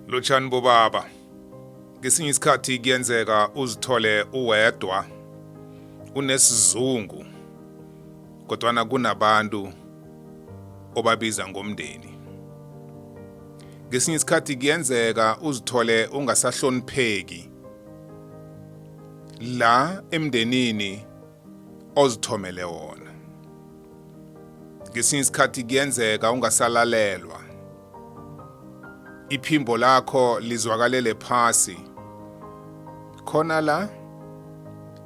Lotshani bobaba. Ngesinye isikhathi kuyenzeka uzithole uwedwa unesizungu kodwana kunabantu obabiza ngomndeni. Ngesinye isikhathi kuyenzeka uzithole ungasahlonipheki la emndenini ozithomele wona. Ngesinye isikhathi kuyenzeka ungasalalelwa. iphimbo lakho lizwakalele phasi khona la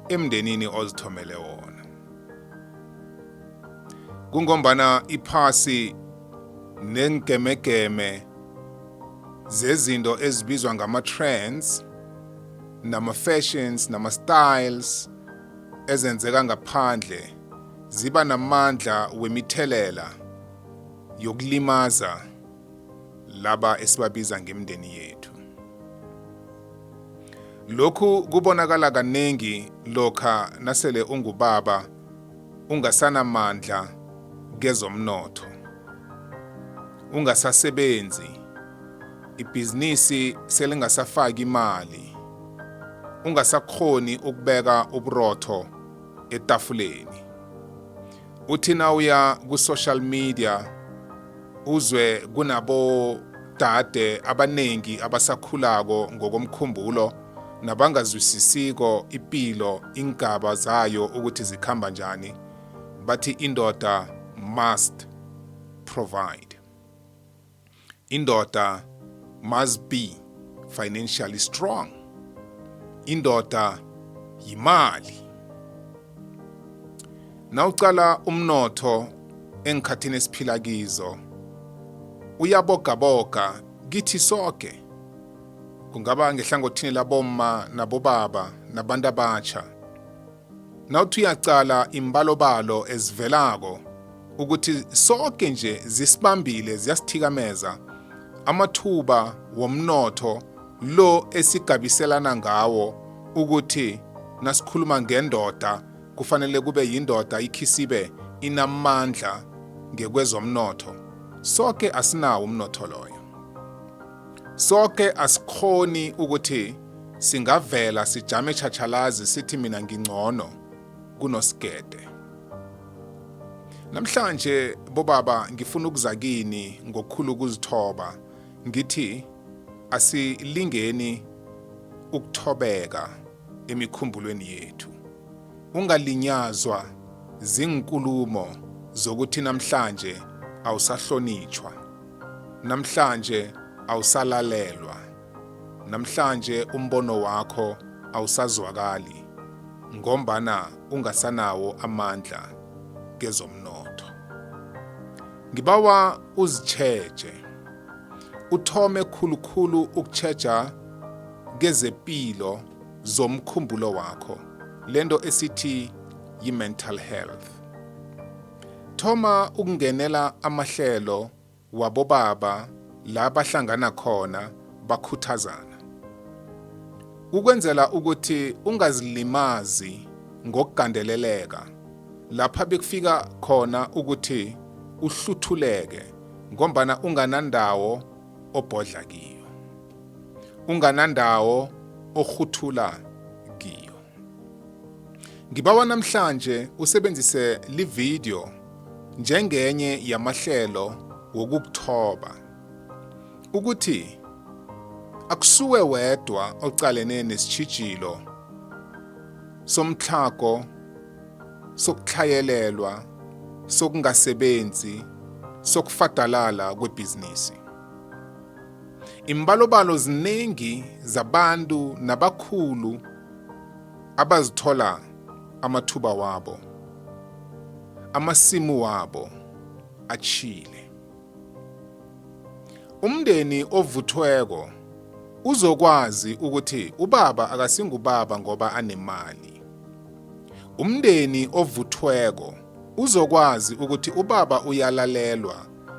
emndenini ozithomele wona kungombana iphasi nengemegeme zezinto ezibizwa ngama-trends nama-fashions nama-styles ezenzeka ngaphandle ziba namandla wemithelela yokulimaza laba esibabiza ngemndeni yethu. Lokhu kubonakala kaningi lokha nasele ungubaba ungasanamandla kezomnotho. Ungasasebenzi, ibhizinisi selingasafaki imali, ungasakghoni ukubeka uburotho etafuleni. uthi nawuya ku-social media uzwe kunabodade abaningi abasakhulako ngokomkhumbulo nabangazwisisiko ipilo iingaba zayo ukuthi zikhamba njani bathi indoda must provide Indoda must be financially strong. Indoda yimali. Nawucala umnotho engikhathini esiphila kizo uyabogaboga kithi soke kungaba ngehlangothini labomma nabobaba nabantu abatsha Nawuthi uyaqala imbalobalo ezivelako ukuthi soke nje zisibambile ziyasithikameza amathuba womnotho lo esigabiselana ngawo ukuthi nasikhuluma ngendoda kufanele kube yindoda ikhisibe inamandla ngekwezomnotho soke asinawo umnotho loyo Soke asikhoni ukuthi singavela sijame tjhatjhalazi sithi mina ngingcono kunosigede. Namhlanje bobaba ngifuna ukuza kini ngokukhulu ukuzithoba ngithi asilingeni ukuthobeka emikhumbulweni yethu. Ungalinyazwa zinkulumo zokuthi namhlanje awusahlonitshwa. Namhlanje awusalalelwa. Namhlanje umbono wakho awusazwakali ngombana ungasanawo amandla kezomnotho. Ngibawa uzitjheje. Uthome khulukhulu ukutjheja kezepilo zomkhumbulo wakho, lento esithi yi-mental health. Thoma ukungenela amahlelo wabobaba la bahlangana khona bakhuthazana. Ukwenzela ukuthi ungazilimazi ngokugandeleleka lapha bekufika khona ukuthi uhluthuleke ngombana unganandawo obhodla kiyo, unganandawo orhuthula Ngibawa namhlanje usebenzise lividiyo njengenye yamahlelo wokukuthoba ukuthi akusuwe wedwa oqalene nesitshijilo somtlhago sokutlhayelelwa sokungasebenzi sokufadalala kwebhizinisi Imbalobalo ziningi zabantu nabakhulu abazithola amathuba wabo, amasimu wabo atshile. Umndeni ovuthweko uzokwazi ukuthi ubaba akasingubaba ngoba anemali. Umndeni ovuthweko uzokwazi ukuthi ubaba uyalalelwa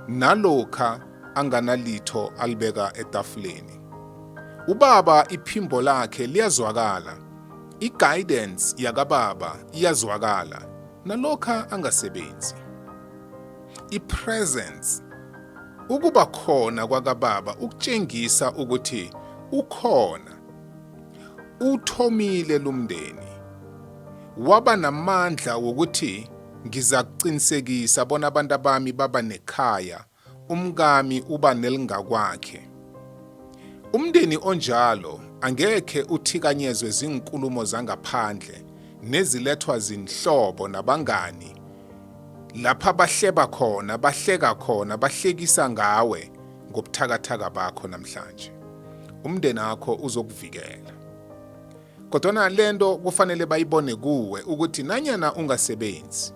nalokha anganalitho alibeka etafuleni. Ubaba iphimbo lakhe liyazwakala, i-guidance yakababa iyazwakala nalokha angasebenzi. I-presence, ukuba khona kwakababa ukutjengisa ukuthi ukhona, uthomile lumndeni, waba namandla wokuthi Ngizakuqinisekisa bona abantu bami baba nekhaya, umkami uba nelingakwakhe. Umndeni onjalo angekhe uthikanyezwe ziinkulumo zangaphandle nezilethwa zinhlobo nabangani lapha bahleba khona bahleka khona bahlekisa ngawe ngobuthakathaka bakho namhlanje umndeni wakho uzokuvikela Kodwana le nto kufanele bayibone kuwe ukuthi nanyana ungasebenzi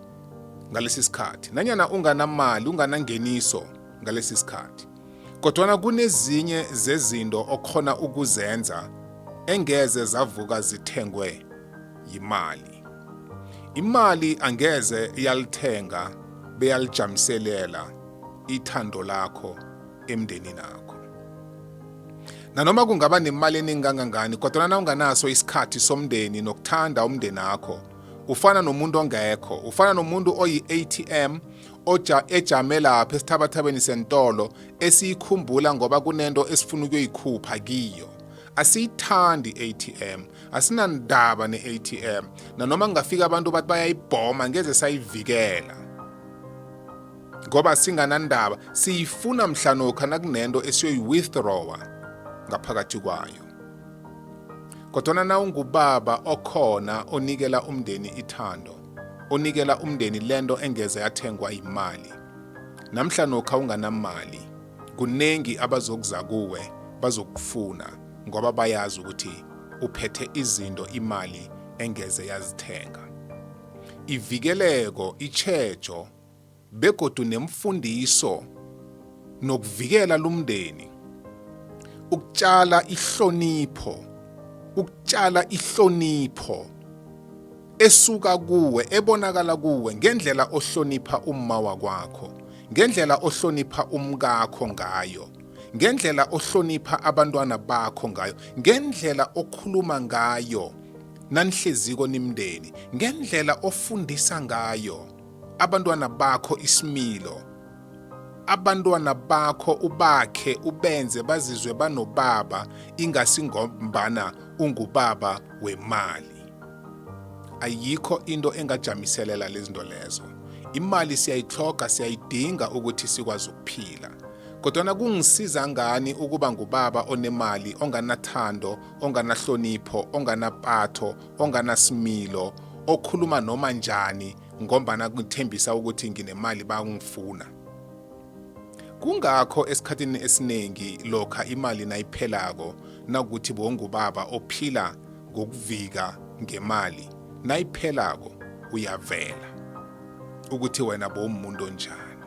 ngalesi sikhathi, nanyana unganamali, unganangeniso ngalesi sikhathi, kodwana kunezinye zezinto okhona ukuzenza engeze zavuka zithengwe yimali. Imali angeze yalithenga beyalijamiselela ithando lakho emndenini akho nanoma kungaba nemali eningi kangangani kodwa nawunganaso isikhathi somndeni nokuthanda umndeni akho ufana nomuntu ongekho ufana nomuntu oyi-atm oja ejame lapha esithabathabeni sentolo esiyikhumbula ngoba kunento esifuna ukuyoyikhupha kiyo asiyithandi i-atm asinandaba ne-atm nanoma kungafika abantu bathi bayayibhoma ngeze sayivikela ngoba singanandaba siyifuna mhlanokha nakunento esiyoyi-withdrawa ngaphakathi kwayo kodwana na ungubaba okhona onikela umndeni ithando onikela umndeni lento engeze yathengwa yimali namhla nokha unganamali kuningi abazokuza kuwe bazokufuna ngoba bayazi ukuthi uphethe izinto imali engeze yazithenga ivikeleko itshejo begodu nemfundiso nokuvikela lumndeni ukutshala ihlonipho ukutshala ihlonipho esuka kuwe ebonakala kuwe ngendlela ohlonipha umma wakwakho ngendlela ohlonipha umkakho ngayo ngendlela ohlonipha abantwana bakho ngayo ngendlela okhuluma ngayo nanihleziko nimndeni ngendlela ofundisa ngayo abantwana bakho isimilo abantwana bakho ubakhe ubenze bazizwe banobaba ingasi ngombana ungubaba wemali ayikho into engajamiselela lezinto lezo imali siyayitloga siyayidinga ukuthi sikwazi ukuphila kodwana kungisiza ngani ukuba ngubaba onemali onganathando onganahlonipho onganapatho onganasimilo okhuluma noma njani ngombana kuthembisa ukuthi nginemali bangifuna kungakho esikhathini esiningi lokha imali nayiphelako nakuthi bongubaba ophila ngokuvika ngemali nayiphelako uyavela ukuthi wena bowumuntu onjani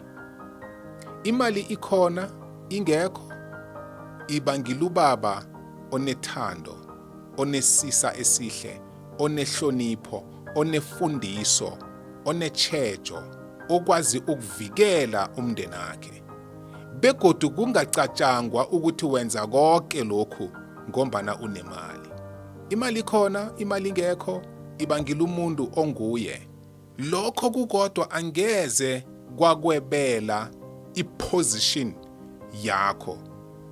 imali ikhona ingekho iba ngilubaba onethando onesisa esihle onehlonipho onefundiso onetshejo okwazi ukuvikela umndeni wakhe begodu kungacatshangwa ukuthi wenza konke lokhu ngombana unemali imali khona imali ingekho ibangile umuntu onguye Lokho kukodwa angeze kwakwebela iposition yakho.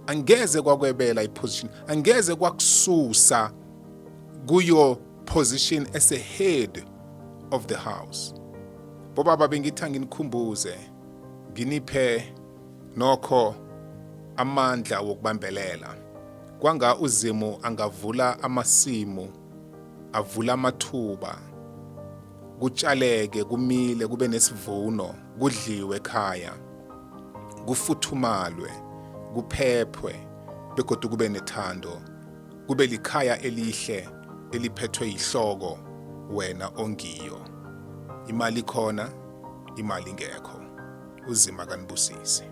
Angeze kwakwebela iposition. Angeze kwakususa kuyo position as a head of the house. Bobaba bengitha nginikhumbuze nginiphe nokho amandla wokubambelela kwanga uzimu angavula amasimu avula amathuba kutshaleke kumile kube nesivuno kudliwe ekhaya kufuthumalwe kuphephwe begodu kube nethando kube likhaya elihle eliphethwe yihloko wena ongiyo imali khona imali ngekho uzima kanibusise